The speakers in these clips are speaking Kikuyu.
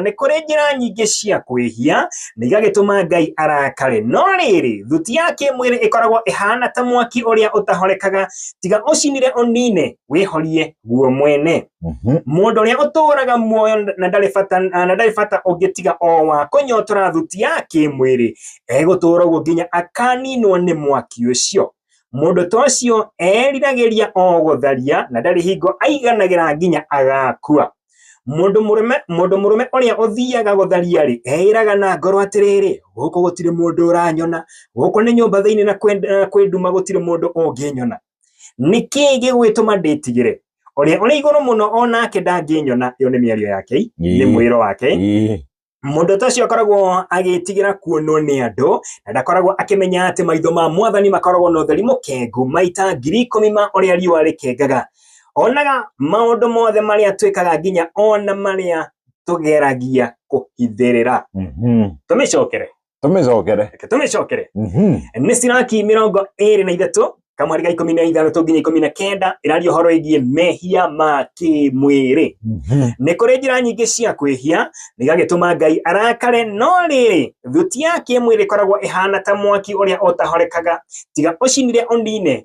nĩ kũrĩ njĩra nyingĩ cia kwĩhia na igagĩtũma Ngai arakare. No rĩrĩ, thuti ya kĩmwĩrĩ ĩkoragwo ĩhana ta mwaki ũrĩa ũtahorekaga, tiga ũcinire ũnine, wĩhorie guo mwene. Mhm. Mũndũ ũrĩa ũtũũraga muoyo na ndarĩ bata na ndarĩ bata ũngĩ tiga o wa kũnyotora thuti ya kĩmwĩrĩ, egũtũũra ũguo nginya akaninwo nĩ mwaki ũcio. Mũndũ ta ũcio eriragĩria o gũtharia na ndarĩ hingo aiganagĩra nginya agakua. Mũndũ mũrũme mũndũ mũrũme ũrĩa ũthiaga gũtharia-rĩ, eĩraga na ngoro atĩrĩrĩ, gũkũ gũtirĩ mũndũ ũranyona, gũkũ nĩ nyũmba thĩinĩ na kwĩ nduma gũtirĩ mũndũ ũngĩnyona. Nĩkĩ gĩgwĩtũma ndĩtigĩre? Ũrĩa ũrĩ igũrũ mũno o nake ndangĩnyona, ĩyo nĩ mĩario ya Ngai, nĩ mwĩro wake. Mũndũ ta ũcio akoragwo agĩtigĩra kuonwo nĩ andũ na ndakoragwo akĩmenya atĩ maitho ma mwathani makoragwo na ũtheri mũkengu maita ngiri ikũmi ma ũrĩa riũa rĩkengaga. Onaga maũndũ mothe marĩa twĩkaga nginya ona marĩa tũgeragia kũhithĩrĩra. Mhm. Tũmĩcokere. tũmĩcokere reke tũmĩcokere Mhm. nĩ ciraki mĩrongo ĩrĩ na ithatũ kamweri ga ikũmi na ithathatũ nginya ikũmi na kenda ĩraria ũhoro ĩgiĩ mehia ma kĩmwĩrĩ Mhm. nĩ kũrĩ njĩra nyingĩ cia kwĩhia nĩgagĩtũma ngai arakare no rĩrĩ thuti ya kĩmwĩrĩ ĩkoragwo ĩhana ta mwaki ũrĩa ũtahorekaga tiga ũcinire ũnine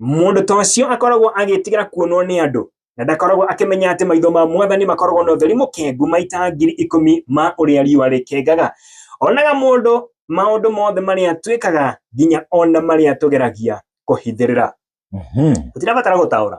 Mũndũ ta ũcio akoragwo agĩĩtigĩra kuonwo nĩ andũ, na ndakoragwo akĩmenya atĩ maitho ma Mwathani makoragwo na ũtheri mũkengu maita ngiri ikũmi ma ũrĩa riũa rĩkengaga. Onaga mũndũ maũndũ mothe marĩa twĩkaga, nginya o na marĩa tũgeragia kũhithĩrĩra. Mhm. Tũtirabatara gũtaũra.